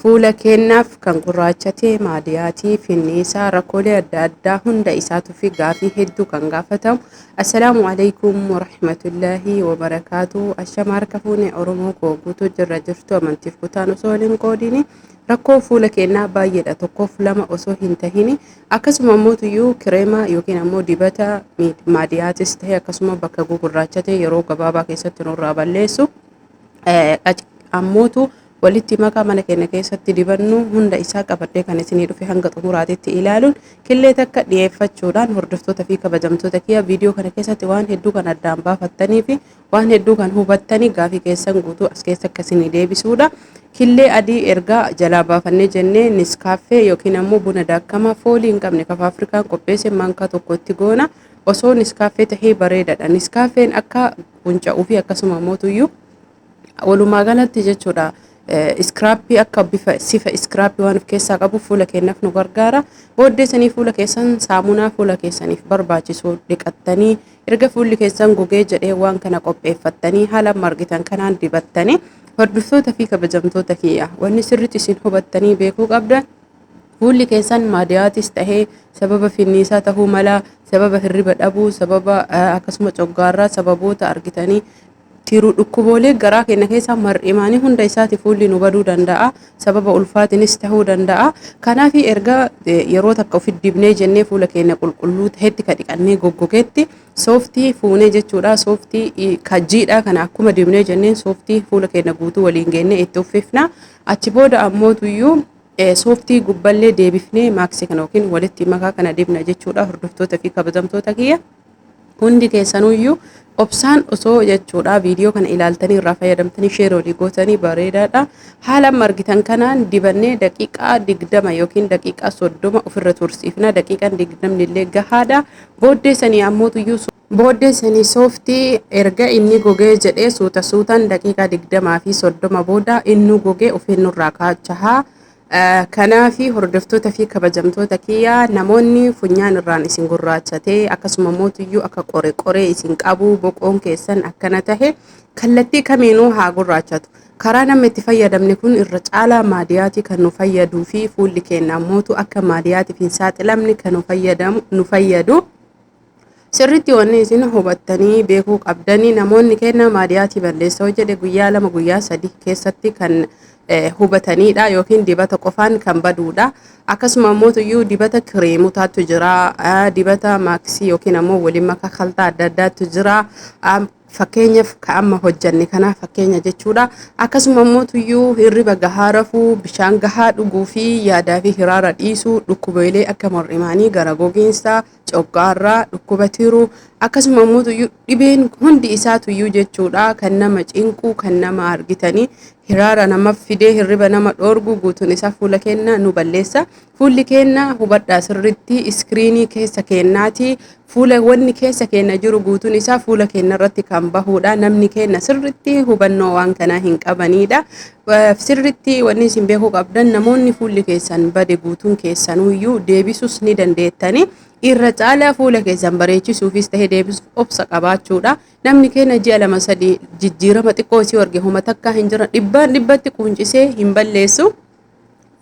Fuula keennaaf kan gurraachate maadiyaatii, finniisaa, rakkoolee adda addaa hunda isaatuufi gaafii hedduu kan gaafatamu. Assalaamu alaikum warahmatullaahi wabarakaatu. Ashama harka fuune Oromoo koo guutuu jirra jirtu amantiif kutaan osoo wal hin qoodini. Rakkoon fuula keennaa baay'eedha tokkoof lama osoo hin tahini. Akkasuma ammoo tuyyuu kireema yookiin ammoo dibata maadiyaatis ta'e akkasuma bakka gugurraachate yeroo gabaabaa keessatti nurraa balleessu. ammootu walitti makaa mana keenya keessatti dibannu hunda isaa qabadhee kan isinii dhufe hanga xumuraatitti ilaaluun killee takka dhiyeeffachuudhaan hordoftoota fi kabajamtoota kiyya viidiyoo kana keessatti waan hedduu kan addaan baafattanii fi waan hedduu kan hubattanii gaafii keessan guutuu as keessa akka isinii deebisuudha. Killee adii ergaa jalaa baafannee jennee niskaaffee yookiin ammoo buna daakkamaa foolii hin qabne kafa Afrikaan qopheesse maankaa tokkotti goona. Osoo niskaaffee tahee bareedaadha. Niskaaffeen akka funca'uu fi akkasuma mootuyyuu walumaa galatti jechuudha iskiraappii akka bifa sifa iskiraappii waan of keessaa qabu fuula keenyaaf nu gargaara. Booddee sanii fuula keessan saamunaa fuula keessaniif barbaachisu dhiqattanii erga fuulli keessan gogee jedhee waan kana qopheeffattanii haala amma argitan kanaan dibattanii hordoftoota fi kabajamtoota kiyya wanni sirriitti isin hubattanii beekuu qabdan Fuulli keessan maadiyaatis ta'ee sababa finniisaa tahuu mala, sababa hirriba dhabuu, sababa akkasuma coggaarraa sababoota argitanii tiruu dhukkuboolee garaa keenya keessaa mar'imaanii hunda isaati fuulli nu baduu danda'a. Sababa ulfaatinis tahuu danda'a. Kanaaf erga yeroo takka ofi dibnee jennee fuula keenya qulqulluu tahetti ka dhiqannee goggogetti sooftii fuunee jechuudha. Sooftii ka jiidhaa kana akkuma dibnee jenneen sooftii fuula keenya guutuu waliin geennee itti uffifna. Achi booda ammootuyyuu Sooftii gubballee deebifnee maaksii kana yookiin walitti makaa kana dibna jechuudha hordoftoota fi kabajamtoota kiyya. Hundi keessanuyyuu obsaan osoo jechuudha viidiyoo kana ilaaltanii irraa fayyadamtanii sheer olii gootanii bareedaadha. Haala amma argitan kanaan dibannee daqiiqaa digdama yookiin daqiiqaa soddoma ofirra tursiifna. Daqiiqaan digdamni illee gahaadha. Booddee sanii ammootuyyuu Booddee sanii sooftii erga inni gogee jedhee suuta suutaan daqiiqaa 20 fi 30 booda innuu gogee ofiin nurraa kaachaha. Kanaafi hordoftoota fi kabajamtoota kiyya namoonni funyaan irraan isin gurraachatee akkasuma mootuyyuu akka qore qoree isin qabuu boqoon keessan akkana tahe kallattii kamiinuu haa gurraachatu. Karaa namni itti fayyadamne kun irra caalaa maadiyaatii kan nu fayyaduu fi fuulli keenya mootu akka maadiyaatiif hin saaxilamne kan nu fayyadu. Sirritti wanni isin hubattanii beekuu qabdanii namoonni kennaa maadiyaatii balleessoo jedhe guyyaa lama guyyaa sadi keessatti kan hubataniidha yookiin dibata qofaan kan baduudha. Akkasuma ammoo iyyuu dibata kireemotaatu jira, dibata maaksii yookiin ammoo waliin makaa kaltaa adda addaatu jira. Fakkeenyaaf ka amma hojjanne kana fakkeenya jechuudha. Akkasuma ammoo iyyuu hirriba gahaa rafuu, bishaan gahaa dhuguu fi yaadaa fi hiraara dhiisuu, dhukkubeelee akka mar'imaanii, gara gogiinsaa, coqqaarraa, dhukkuba tiruu akkasuma immoo tuyyuu dhibeen hundi isaa tuyyuu jechuudha kan nama cinquu kan nama argitanii hiraara nama fidee hirriba nama dhoorguu guutuun isaa fuula keenya nu balleessa fuulli keenya hubadhaa sirriitti iskiriinii keessa keenyaati fuula wanni keessa keenya jiru guutuun isaa fuula keenya irratti kan bahuudha namni keenya sirriitti hubannoo waan kanaa hin qabaniidha Sirritti wanni isin beekuu qabdan namoonni fuulli keessan bade guutuun keessanuyyuu deebisuus ni dandeettani. Irra caalaa fuula keessan bareechisuufis ta'e deebisuuf obsa qabaachuudha. Namni keenya ji'a lama sadii jijjiirama xiqqoo isii arge homa takkaa hin jiran dhibbaan dhibbatti quuncisee hin balleessu.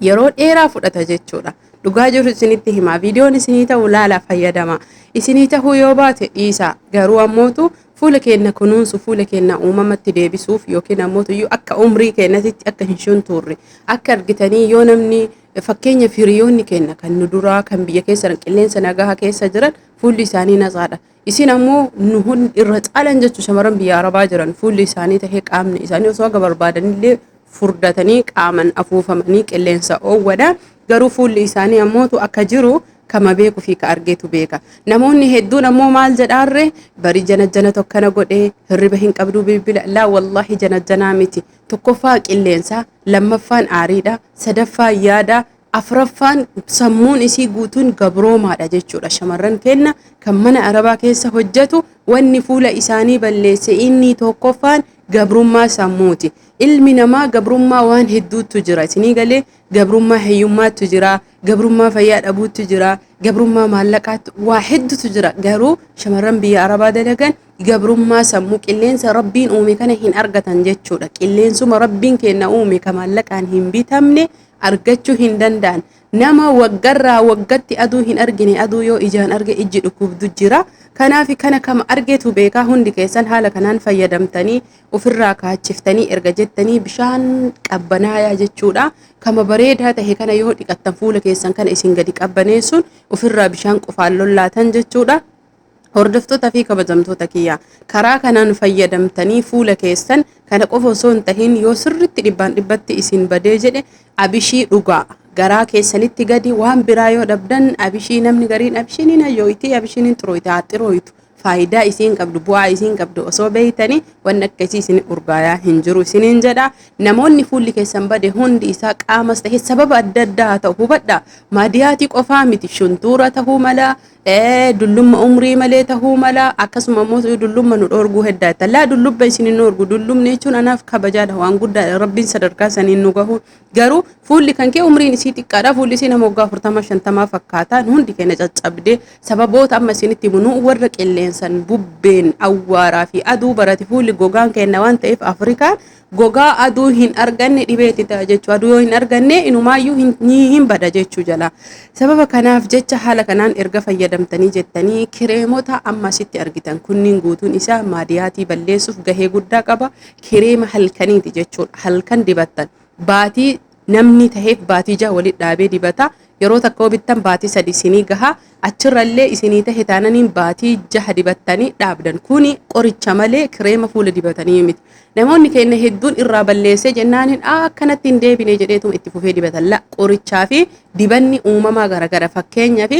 yeroo dheeraa fudhata jechuudha. Dhugaa jiru isinitti himaa viidiyoon isinii ta'u laala fayyadama. Isinii ta'uu yoo baate dhiisaa garuu ammootu fuula keenya kunuunsu fuula keenya uumamatti deebisuuf yookiin ammootu iyyuu akka umrii keenyatitti akka hin shuntuurre akka argitanii yoo namni fakkeenya firiyoonni keenya kan nu duraa kan biyya keessa qilleensa nagaha keessa jiran fuulli isaanii nasaadha. Isin ammoo nu hundi irra caalan jechuun shamarran biyya Arabaa jiran fuulli isaanii tahee qaamni isaanii osoo akka barbaadanillee furdatanii qaaman afuufamanii qilleensa oowwadha. Garuu fuulli isaanii ammootu akka jiru kama beeku fi ka argeetu beeka. Namoonni hedduun ammoo maal jedhaarre bari janajjana tokkana godhe hirriba hin qabduu bilbila laa wallaahi janajjanaa miti. Tokkoffaa qilleensa, lammaffaan aariidha, sadaffaa yaada, Afraffaan sammuun isii guutuun gabroomaadha jechuudha. Shamarran keenna kan mana arabaa keessa hojjatu wanni fuula isaanii balleesse inni tokkoffaan gabrummaa sammuuti. Ilmi namaa gabrummaa waan hedduuttu jira. Isinii galee gabrummaa hiyyummaattu jira, gabrummaa fayyaa dhabuuttu jira, gabrummaa maallaqaattu waa hedduutu jira. Garuu shamarran biyya arabaa dalagan gabrummaa sammuu qilleensa rabbiin uume kana hin argatan jechuudha. Qilleensuma rabbiin keenna uume ka maallaqaan hin bitamne argachuu hin danda'an. Nama waggarraa waggatti aduu hin argine aduu yoo ijaan arge ijji dhukkubdu jira. Kanaaf kana kama argetu beekaa hundi keessan haala kanaan fayyadamtanii ofirraa kaachiftanii erga jettanii bishaan qabbanaayaa jechuudha. Kama bareedaa tahe kana yoo dhiqattan fuula keessan kana isin gadi qabbaneessuun ofirraa bishaan qofaan lollaatan jechuudha. Hordoftoota fi kabajamtoota kiyya karaa kanaan fayyadamtanii fuula keessan kana qofa osoo hin tahin yoo sirritti dhibbaan dhibbatti isin badee jedhe abishii dhugaa garaa keessanitti gadi waan biraa yoo dhabdan abishii namni gariin abishiniin hayyooyitii abishiniin xurooyite haa xirooyitu faayidaa isiin qabdu bu'aa isiin qabdu osoo beeytanii wanni akka isii isin urgaayaa hin jiru isiniin jedha namoonni fuulli keessan bade hundi isaa qaamas ta'e sababa adda addaa haa ta'u hubadha maadiyaatii qofaa miti shuntuura ta'uu mala dullumma umrii malee tahuu mala akkasuma immoo dullumma nu dhoorguu heddaa itti laa dullubba isin hin dhoorgu dullumni jechuun anaaf kabajaadha waan guddaadha rabbiin sadarkaa saniin nu gahu garuu fuulli kan kee umriin isii xiqqaadha fuulli isii nama waggaa afurtama shantamaa fakkaata hundi keenya caccabdee sababoota amma isinitti himu nu warra qilleensan bubbeen awwaaraa fi aduu barate fuulli gogaan keenya waan ta'eef afrikaan gogaa aduu hin arganne dhibee itti ta'a jechuudha. Aduu yoo hin arganne inumaayyuu hin- ni hin bada jechuu jala. Sababa kanaaf jecha haala kanaan erga fayyadamtanii jettanii kireemota amma asitti argitan kunniin guutuun isaa maadiyaatii balleessuuf gahee guddaa qaba. Kireema halkaniiti jechuudha. Halkan dibattan baatii Namni taheef baatii jaha walitti dhaabee dibata. Yeroo takka yoo bittan baatii sadii isinii gaha. Achirra illee isinii tahe taananiin baatii jaha dibattanii dhaabdan. Kuni qoricha malee kireema fuula dibatanii miti. Namoonni keenna hedduun irraa balleessee jennaaniin aa akkanatti hin deebine jedheetuma itti fufee dibatan. La qorichaa fi dibanni uumamaa garagara. Fakkeenyaaf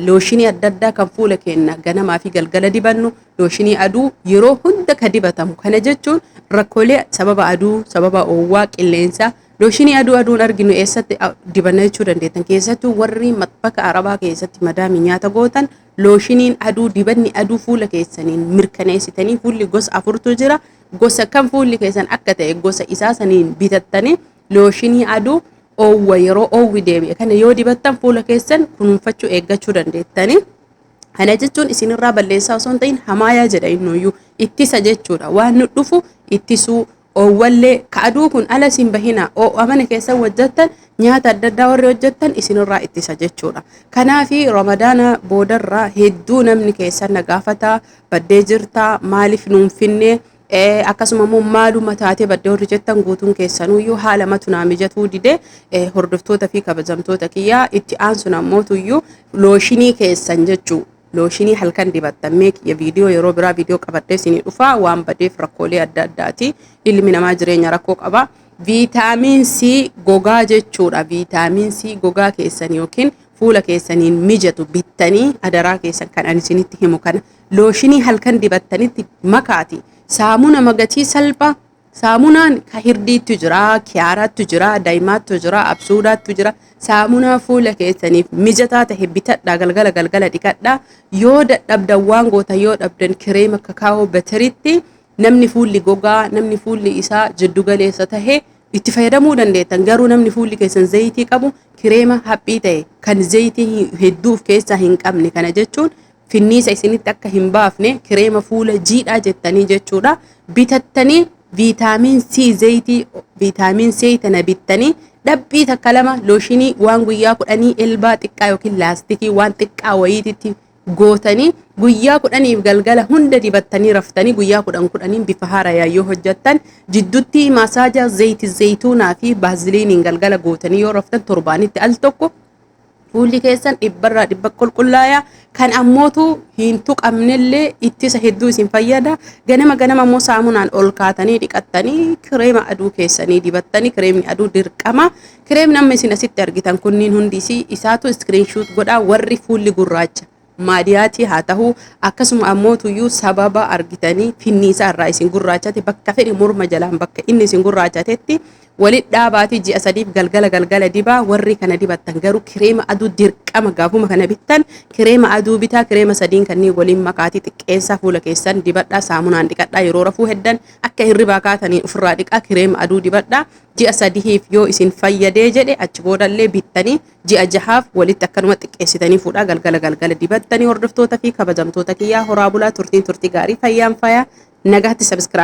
looshinii adda addaa kan fuula keenna ganamaa fi galgala dibannu, looshinii aduu yeroo hunda ka dibatamu kana jechuun rakkoolee sababa aduu sababa oowwaa qilleensaa looshinii aduu aduun arginu eessatti dibanna jechuu dandeettan keessattuu warri bakka arabaa keessatti madaamii nyaata gootan looshiniin aduu dibanni aduu fuula keessaniin mirkaneessitanii fuulli gosa afurtu jira gosa kan fuulli keessan akka ta'e gosa isaa saniin bitattanii looshinii aduu oowwa yeroo oowwi deebi'e kana yoo dibattan fuula keessan kunuunfachuu eeggachuu dandeettanii. Kana jechuun isinirraa balleessaa osoo hin ta'in hamaayaa jedha innuyyuu ittisa jechuudha. Waan nu dhufu ittisuu oowwallee ka aduu kun ala isin bahinaa oo'a mana keessan hojjettan nyaata adda addaa warri hojjettan isinirraa ittisa jechuudha. Kanaaf ramadaana boodarraa hedduu namni keessan na gaafataa baddee jirtaa maaliif nuun finnee Eh, akkasuma immoo maaluma taatee badde warri jettan guutuun keessanuyyuu haala matu naa mijatuu dide eh, hordoftoota fi kabajamtoota kiyyaa itti aansun ammootuyyuu looshinii keessan jechuu looshinii halkan dibattan mee kiyya viidiyoo yeroo biraa viidiyoo qabadhee isinii dhufaa waan badeef rakkoolee adda addaati ilmi namaa jireenya rakkoo qaba viitaamiin C gogaa jechuudha viitaamiin C gogaa keessan yookiin fuula keessaniin mijatu bittanii adaraa keessan kan ani isinitti himu kana looshinii halkan dibattanitti makaati saamuna magatii salphaa saamunaan ka hirdiittu jira kiyaaraattu jira daa'imaattu jira absuudaattu jira saamunaa fuula keessaniif mijataa ta'e bitadhaa galgala galgala dhiqadhaa yoo dadhabdan waan goota yoo dhabdan kireema kakaa'oo batiritti namni fuulli gogaa namni fuulli isaa jiddu galeessa ta'e itti fayyadamuu dandeettan garuu namni fuulli keessan zayitii qabu kireema haphii ta'e kan zayitii hedduu of keessaa hin qabne kana jechuun finniisa isinitti akka hin baafne kireema fuula jiidhaa jettanii jechuudha bitattanii viitaamiin C zayitii viitaamiin C tana bittanii dhaphii takka lama looshinii waan guyyaa kudhanii elbaa xiqqaa yookiin laastikii waan xiqqaa wayiititti gootanii guyyaa kudhaniif galgala hunda dibattanii raftanii guyyaa kudhan kudhaniin bifa haarayaa yoo hojjattan jiddutti maasaaja zayiti zayituunaa fi baaziliiniin galgala gootanii yoo raftan torbaanitti al tokko Fuulli keessan dhibbarraa dhibba qulqullaaya. Kan ammootu hin tuqamnellee ittisa hedduu isin fayyada. Ganama ganama immoo saamunaan ol kaatanii dhiqattanii kireema aduu keessanii dibattanii kireemni aduu dirqama. Kireemni amma isin asitti argitan kunniin hundi isaatu iskiriinshuut godhaa warri fuulli gurraacha. maadiyaatii haa tahuu akkasuma ammoo tuyyuu sababa argitanii finniisaa irraa isin gurraachate bakka fedhe morma jalaan bakka inni isin gurraachatetti walit dhaabaatii ji'a sadiif galgala galgala dibaa warri kana dibattan garuu kireema aduu dirqama gaafuma kana bittan kireema aduu bitaa kireema sadiin kanneen waliin makaatii xiqqeessaa fuula keessan dibadhaa saamunaan dhiqadhaa yeroo rafuu heddan akka hirribaa kaatanii ofirraa dhiqaa kireema aduu dibadhaa ji'a sadihiif yoo isin fayyadee jedhe achi boodallee bittanii Ji'a jahaaf walitti akkanuma xiqqeessitanii fuudhaa galgala galgala dibattanii hordoftoota fi kabajamtoota kiyyaa horaa bulaa turtiin turtii gaarii fayyaan faayaa nagaatti subscribe